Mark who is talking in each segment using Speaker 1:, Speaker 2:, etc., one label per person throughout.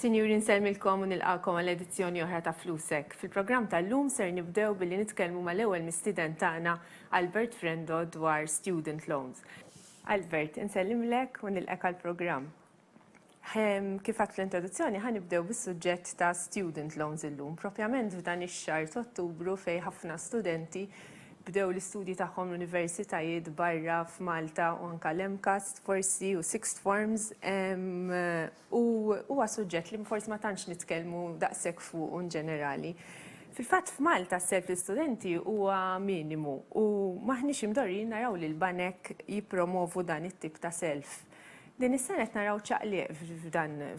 Speaker 1: Sinjuri nsellmilkom u nilqagħkom għal edizzjoni oħra ta' Flusek. Fil-programm tal-lum ser nibdew billi nitkellmu mal-ewwel mistieden tagħna Albert Frendo dwar student loans. Albert, insellimlek u nilqek għall-programm. Kif għadt fl-introduzzjoni ħa nibdew bis-suġġett ta' student loans illum, propjament f'dan ix-xahar t'Ottubru fejn ħafna studenti Bdew l-istudji tagħhom l-universitajiet barra f'Malta u anke l-MCAST forsi u sixth forms u huwa suġġett li forsi ma tantx nitkellmu daqshekk fuqu in ġenerali. Fil-fatt f'Malta s-self l-istudenti huwa minimu u m'aħniex imdorrijin naraw li l-banek jippromovu dan it-tip ta' self. Din is-sena qed naraw ċaqliq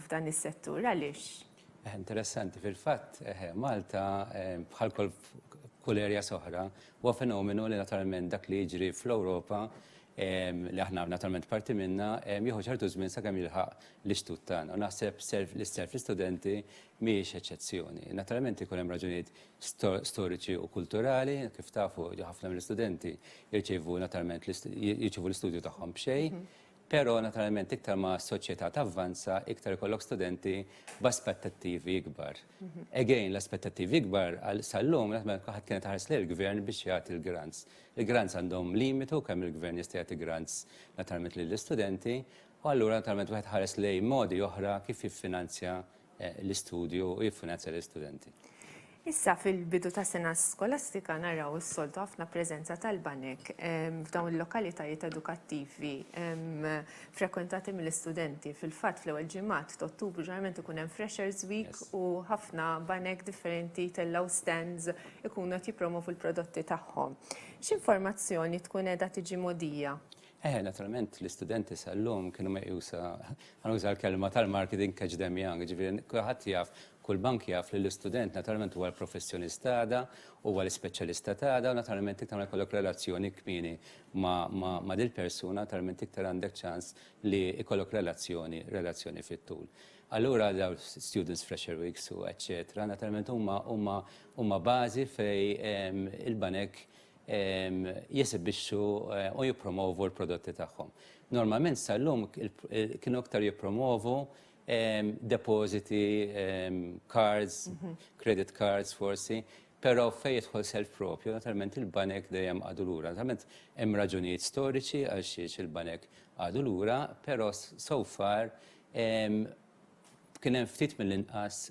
Speaker 1: f'dan is-settur. Għaliex? Eh, interessanti,
Speaker 2: fil-fatt, eh, Malta, eh, bħal kol kull erja soħra, huwa fenomenu li naturalment dak li jiġri fl-Ewropa li aħna naturalment parti minna, jieħu ċertu żmien sakemm jilħaq l-istut tagħna. Naħseb l-isterf l-istudenti mhijiex eċċezzjoni. Naturalment ikun hemm raġunijiet storiċi u kulturali, kif tafu ħafna mill-istudenti jirċievu naturalment jirċievu l-istudju tagħhom b'xejn. Mhm. Però, naturalment, iktar ma s-soċjetà tavvanza, iktar ikollok studenti b'aspettattivi ikbar. Again, l-aspettattivi ikbar għal sal-lum, naturalment, ħadd kienet taħares lejn il-gvern biex jagħti l-grants. Il-grants għandhom limitu kemm il-gvern jista' jagħti grants naturalment lill-istudenti, u allura naturalment wieħed ħares lejn modi oħra kif jiffinanzja l-istudju u jiffinanzja lill-istudenti. Issa
Speaker 1: fil-bidu ta' sena skolastika naraw is-soltu ħafna preżenza tal-banek f'dawn il-lokalitajiet edukattivi frekwentati mill-istudenti. Fil-fatt fl-ewwel ġimgħat t'Ottubru ġeneralment ikun hemm Freshers Week u ħafna banek differenti jtellgħu stands ikunu qed jippromovu l-prodotti tagħhom. X'informazzjoni tkun qiegħda tiġi mogħdija? Eħe, naturalment
Speaker 2: l-istudenti sal-lum kienu meqjusa, għan uża l-kelma tal-marketing catch them young, ġifiri kulħadd jaf, kull bank jaf li l-istudent naturalment huwa l-professjonist għada, huwa l-ispeċjalista għada, u naturalment iktar ma jkollok relazzjoni kmieni ma' dil-persuna, naturalment iktar għandek ċans li jkollok relazzjoni, relazzjoni fit-tul. Allura daw students fresher weeks u eċċetera, naturalment huma huma huma bażi fej il-banek jesibixxu u jippromovu l-prodotti tagħhom. Normalment sal-lum kienu iktar jippromovu depożiti, cards, credit cards forsi, però fejn jidħol self propju, naturalment il-banek dejjem qagħdu lura. Naturalment hemm raġunijiet storiċi għal xiex il-banek qagħdu lura, però so far kien hemm ftit mill-inqas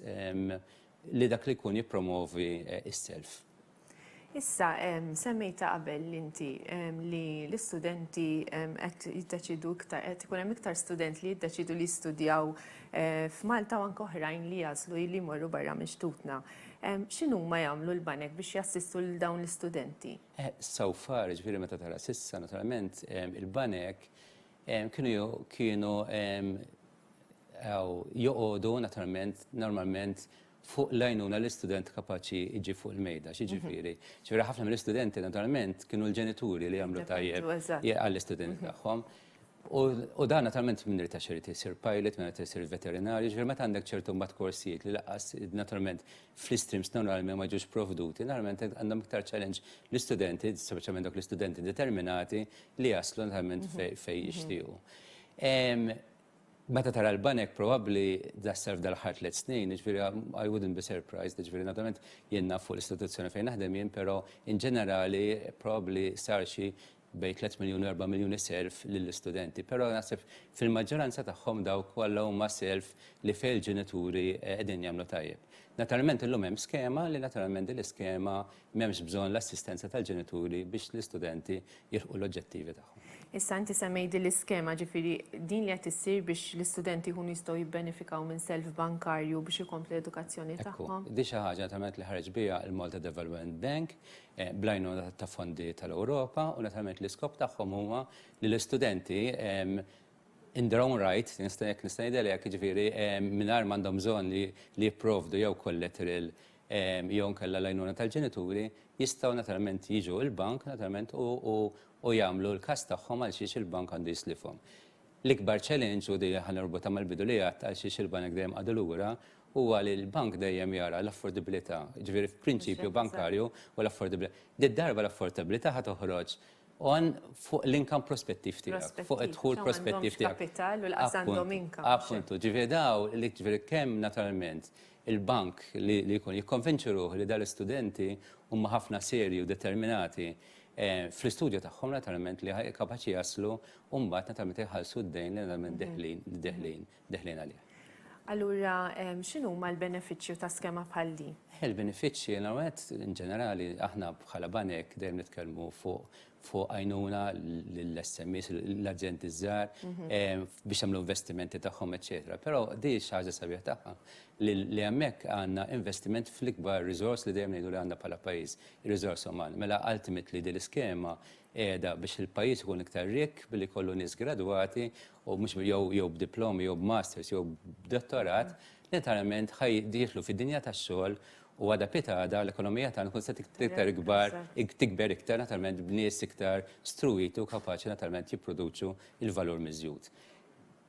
Speaker 2: li dak li jkun jippromovi s-self. Issa,
Speaker 1: semmejta qabel inti li l-istudenti qed jiddeċidu iktar, qed ikun hemm iktar student li jiddeċidu li jistudjaw f'Malta u anke oħrajn li jażlu li jmorru barra minn xtutna. X'inhuma jagħmlu l-banek biex jassistu lil dawn l-istudenti? So far,
Speaker 2: jiġifieri meta tara s'issa, naturalment il-banek kienu joqogħdu naturalment normalment fuq l-għajnuna li student kapaċi jġib fuq il-mejda, x'jiġifieri. Ġifieri ħafna mill-istudenti naturalment kienu l-ġenituri li jagħmlu tajjeb għall-istudenti tagħhom. U dan naturalment min irid għax irid isir pilot, min irid isir veterinarju, ġifieri meta għandek ċertu mbagħad korsijiet li lanqas naturalment fl-istreams normali ma jiġux provduti, naturalment għandhom iktar challenge l-istudenti, speċjalment dawk l-istudenti determinati li jaslu naturalment fejn jixtiequ. Meta tara l-banek probabbli das-self dal-aħħar tliet snin, jiġifieri I wouldn't be surprised, jiġifieri naturalment jien naf fuq l-istituzzjoni fejn naħdem jien, però in ġenerali probabbli sar xi bejn 3 miljun u 4 miljuni self lill-istudenti. Però naħseb fil-maġġoranza tagħhom dawk kollha huma self li fejn il-ġenituri qegħdin jagħmlu tajjeb. Naturalment illum hemm skema li naturalment din l-iskema M'hemmx bżonn l-assistenza tal-ġenituri biex l-istudenti jilħqu l-oġġettivi tagħhom. Issa inti semmejt
Speaker 1: din l-iskema, ġifieri din li qed issir biex l-istudenti jkunu jistgħu jibbenefikaw minn self bankarju biex ikomplu l-edukazzjoni tagħhom. Ekku, din xi ħaġa naturalment li
Speaker 2: ħareġ biha l-Malta Development Bank bl-għajnuna ta' fondi tal-Ewropa u naturalment l-iskop tagħhom huwa li l-istudenti in their own right, jekk nista' ngħidilha hekk, jiġifieri mingħajr m'għandhom bżonn li jipprovdu jew kollateral jew inkella l-għajnuna tal-ġenituri, jistgħu naturalment jiġu l-bank naturalment u jagħmlu l-każ tagħhom għalxiex il-bank għandu jislifhom. L-ikbar challenge, u di ħa norbotha mal-bidu li għedt għalxiex il-banek dejjem qagħdu lura, huwa li l-bank dejjem jara l-affordibbilità, jiġifieri f'prinċipju bankarju huwa l-affordibbilità. Din id-darba l-affordibbilità ħa toħroġ għan fuq l-income prospettiv tiegħek, fuq id-dħul prospettiv tiegħek.
Speaker 1: Appuntu, jiġifieri dawn,
Speaker 2: jiġifieri kemm naturalment il-bank li jkun jikkonvinċi ruħu li dal-istudenti huma ħafna serji u determinati fl-istudju tagħhom naturalment li kapaċi jaslu u mbagħad naturalment iħallsu d-dejn li naturalment deħlin deħlin għalih. Allura
Speaker 1: x'inhuma l-benefiċċju ta' skema bħal din? Il-benefiċċji l-ewwel
Speaker 2: nett in ġenerali aħna bħala banek dejjem nitkellmu fuq fuq għajnuna lill-SMEs, l-azjendi ż-żgħar, biex jagħmlu investimenti tagħhom, eċċetera. Però di xi ħaġa sabiħa tagħha li hemmhekk għandna investiment fl-ikbar riżors li dejjem ngħidu li għandna bħala pajjiż, ir-riżors uman. Mela ultimately din l-iskema qiegħda biex il-pajjiż ikun iktar rikk billi jkollu nies gradwati u mhux jew b'diplomi jew b'masters jew b'dottorat li naturalment ħa jidħlu fid-dinja tax-xogħol U għada pitada l-ekonomija tagħna kun se tiktar ikbar, tikber iktar naturalment b'nies iktar struwiti u kapaċi naturalment jipproduċu il-valur miżjud.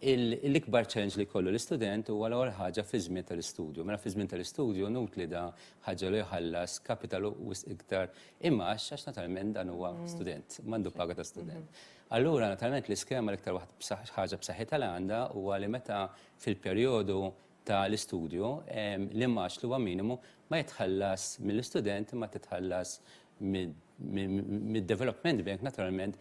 Speaker 2: L-ikbar challenge li jkollu l-istudent huwa l-ewwel ħaġa fiż-żmien tal-istudju. Mela fiż-żmien tal-istudju inutli da ħaġġelu jħallas kapital wisq iktar imgħax għax naturalment dan huwa student, m'għandu paga ta' student. Allura naturalment l-iskema l-iktar waħda ħaġa b'saħħitha li għandha huwa li meta fil-perjodu ta' l-istudju, l-imgħax li huwa minimu ma jitħallas mill-istudent imma titħallas mid-Development Bank naturalment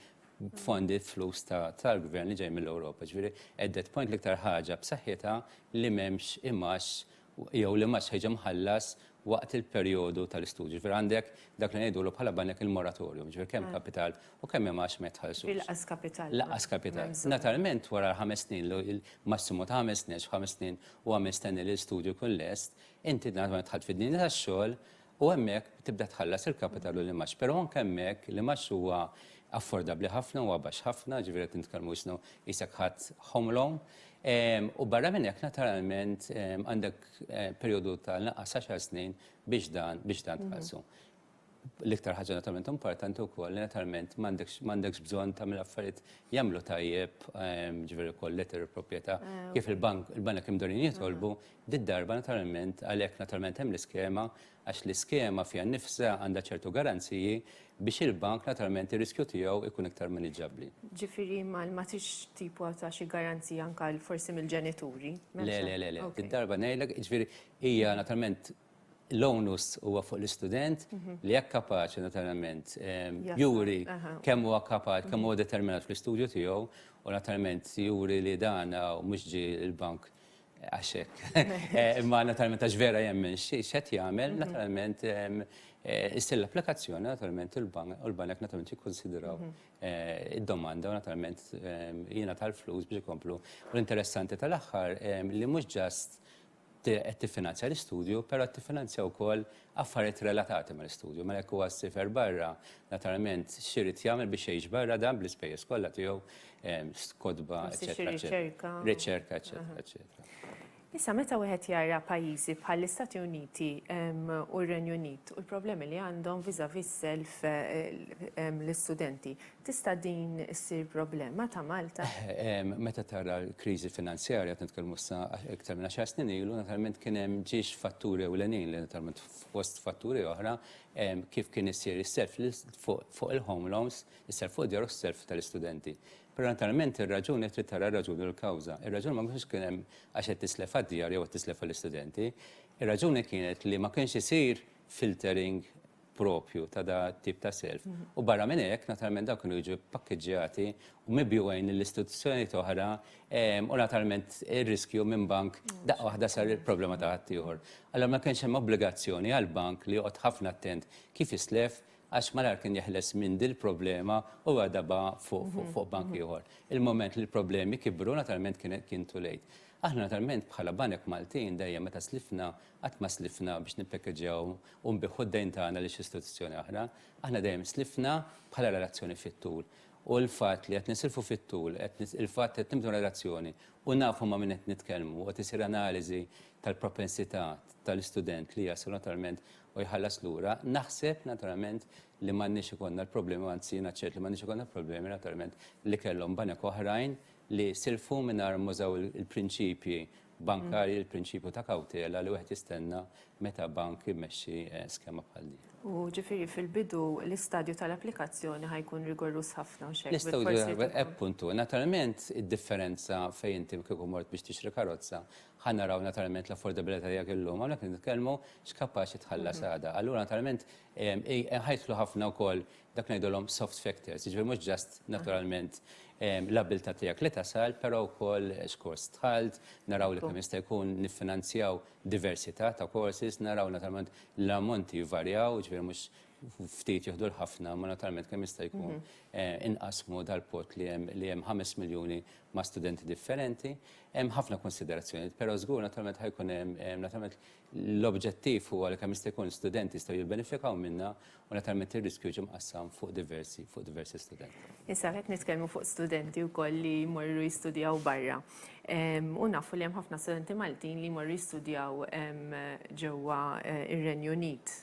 Speaker 2: b'fondi b'flus tal-Gvern li ġej mill-Ewropa. Ġifieri at that point l-iktar ħaġa b'saħħitha li m'hemmx imgħax jew l-imgħax ħa jiġi mħallas waqt il-perjodu tal-istudju. Jiġifieri għandek dak li ngħidulu bħala banek il-moratorium, jiġifieri kemm kapital u kemm hemm għax ma jitħallsux. Inqas kapital. L-anqas
Speaker 1: kapital.
Speaker 2: Naturalment wara l-ħames snin, massimu ta' ħames snin, għax f'ħames snin huwa mistenni li l-istudju jkun lest, inti naturalment dħalt fid-dinja tax-xogħol u hemmhekk tibda tħallas il-kapital u l-imgħax. Però anke hemmhekk l-imgħax huwa affordabbli ħafna, huwa baxx ħafna, jiġifieri qed nitkellmu qisna qisek ħadt home loan, U barra minn hekk naturalment għandek perjodu ta' l-inqas għaxar snin biex dan biex dan tħallsu. L-iktar ħaġa naturalment importanti wkoll li naturalment m'għandekx bżonn tagħmel affarijiet jagħmlu tajjeb ġifieri wkoll letter of proprjetà kif il-bank il-banek imdorrijin jitolbu, did-darba naturalment għalhekk naturalment hemm l-iskema għax l-iskema fiha nnifisha għandha ċertu garanziji biex il-bank naturalment ir-riskju tiegħu jkun iktar maniġġabbli. Ġifieri
Speaker 1: ma tridx tipo ta' xi garanzija anke forsi mill-ġenituri? Le, le, le, le. Din
Speaker 2: darba ngħidlek, ġifieri hija naturalment l-onus huwa fuq l-istudent li jekk kapaċi naturalment juri kemm huwa kapaċi, kemm huwa determinat fl-istudju tiegħu u naturalment juri li dan mhux ġie l-bank Għax hekk. Imma naturalment għax vera jemmen x'qed jagħmel, mhm. naturalment eh, issir l-applikazzjoni naturalment u l-banek naturalment jikkonsidraw mhm. eh, id-domanda u naturalment eh, jiena tal-flus biex ikomplu. U l-interessanti tal-aħħar li mhux ġast qed tiffinanzja l-istudju, però qed tiffinanzja wkoll affarijiet relatati mal-istudju. Mela jekk huwa ssifer barra, naturalment x'irid jagħmel biex jgħix barra dan bl-ispejjeż kollha tiegħu, ehm, kotba, eċetera, eċetera. Riċerka, eċetera, eċetera. Issa meta
Speaker 1: wieħed jara pajjiżi bħall-Istati Uniti ehm, u r-Renju Unit u l-problemi li għandhom viżavi self ehm, l-istudenti, Tista' din issir problema ta' Malta? Meta tara
Speaker 2: l-kriżi finanzjarja, qed nitkellmu issa iktar minn għaxar snin ilu, naturalment kien hemm ġiex fatturi ewlenin li naturalment fost fatturi oħra kif kien isir is-self fuq il-home loans, is-self fuq id-djar u s-self tal-istudenti. Però naturalment ir-raġuni trid tara r-raġuni u l-kawża. Ir-raġuni ma kienx kien hemm għax qed tislef għad-djar jew qed tislef għall-istudenti. Ir-raġuni kienet li ma kienx isir filtering proprju ta' da tip ta' self. U barra minn hekk, naturalment dawn kienu jiġu pakkeġġjati u mibjugħin lil istituzzjonijiet oħra u naturalment ir-riskju minn bank daqqa waħda sar il-problema ta' ħaddieħor. Allura ma kienx hemm obbligazzjoni għall-bank li joqgħod ħafna attent kif jislef għax malajr kien jeħles minn dil-problema u jwadabha fuq bank ieħor. Il-mument li l-problemi kibru naturalment kien too late. Aħna naturalment bħala banek Maltin dejjem meta slifna Qatt ma slifna biex nippekkeġġjaw u nbiħħu d-dejn tagħna lil xi istituzzjoni oħra. Aħna dejjem slifna bħala relazzjoni fit-tul. U l-fatt li qed nisilfu fit-tul, il-fatt qed nibnu relazzjoni u nafu ma' min qed nitkellmu u qed isir analiżi tal-propensità tal-istudent li jasal naturalment u jħallas lura, naħseb naturalment li m'għandniex ikollna l-problemi, anzi jiena ċert li m'għandniex ikollna l-problemi naturalment li kellhom banek oħrajn li silfu mingħajr m'użaw il-prinċipji bankarji l-prinċipju ta' kawtela li wieħed jistenna meta bank imexxi eh, skema bħal din. U ġifiri fil-bidu
Speaker 1: l-istadju tal-applikazzjoni ħajkun rigorus ħafna u xek. Nistaw appuntu,
Speaker 2: eh, naturalment id-differenza fejn inti kieku mort biex tixri karozza, ħan naraw naturalment l-affordabilità jgħak il-lum, għalek nitkellmu x'kapaċi tħallas mhm. għada. Allura naturalment Inħajklu ħafna wkoll dak li ngħidulhom soft factors, jiġifieri mhux just naturalment l-abbiltà tiegħek li tasal, però wkoll x'kors dħalt, naraw li kemm jista' jkun niffinanzjaw diversità ta' courses, naraw naturalment l-ammonti jvarjaw, jiġifieri mhux ftit jieħdu l-ħafna, imma naturalment kemm jista' jkun inqassmu dal-pott li hemm li hemm ħames miljuni ma' studenti differenti. Hemm ħafna kunsiderazzjonijiet, però żgur naturalment ħa jkun hemm naturalment L-objettiv huwa li kemm jista' jkun studenti jistgħu jibbenefikaw minnha u naturalment ir-riskju jiġi mqassam fuq diversi fuq diversi studenti. Issa qed nitkellmu
Speaker 1: fuq studenti wkoll li jmorru jistudjaw barra. U nafu li hemm ħafna studenti Maltin li jmorru jistudjaw ġewwa ir-Renju Unit.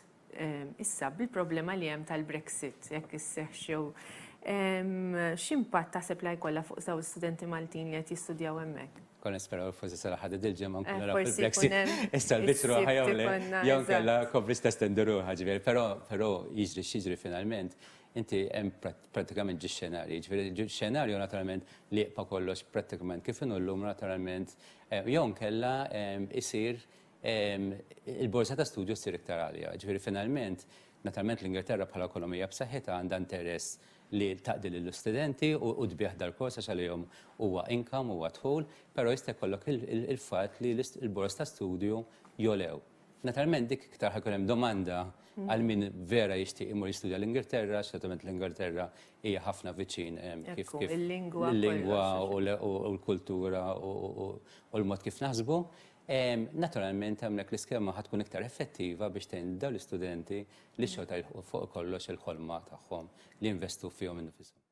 Speaker 1: Issa, bil-problema li hemm tal-Brexit, jekk isseħħx jew x'impatt taħseb li jkollha fuq dawn l-istudenti Maltin li qed jistudjaw hemmhekk? Konna nisperaw forsi
Speaker 2: sara ħadid il-ġimgħa nkunu naraw fil-Brexit. Issa l-biċċ ruħha jew le, jew kellha kobbiex testendi ruħha ġifieri. Però jiġri x'jiġri finalment, inti hemm prattikament ġie xenarji. Ġifieri xenarju naturalment li jibqa' kollox prattikament kif inhu llum naturalment jew inkella jsir il-borża ta' studju ssir iktar għalja. Ġifieri finalment, naturalment l-Ingilterra bħala ekonomija b'saħħitha għandha interess li taqdi lill-istudenti u tbigħ dal-kors għax għalihom huwa income, huwa dħul, però jista' jkollok il-fatt li l-borż ta' studju jogħlew. Naturalment dik iktar ħajkun hemm domanda għal min vera jixtieq imur jistudja l-Ingilterra, għax naturalment l-Ingilterra hija ħafna viċin kif kif il-lingwa u l-kultura u l-mod kif naħsbu. Naturalment hemmhekk l-iskema ħa tkun iktar effettiva biex tgħin lil dawn l-istudenti li xorta jilħqu fuq kollox il-ħolma tagħhom li jinvestu fihom innifishom.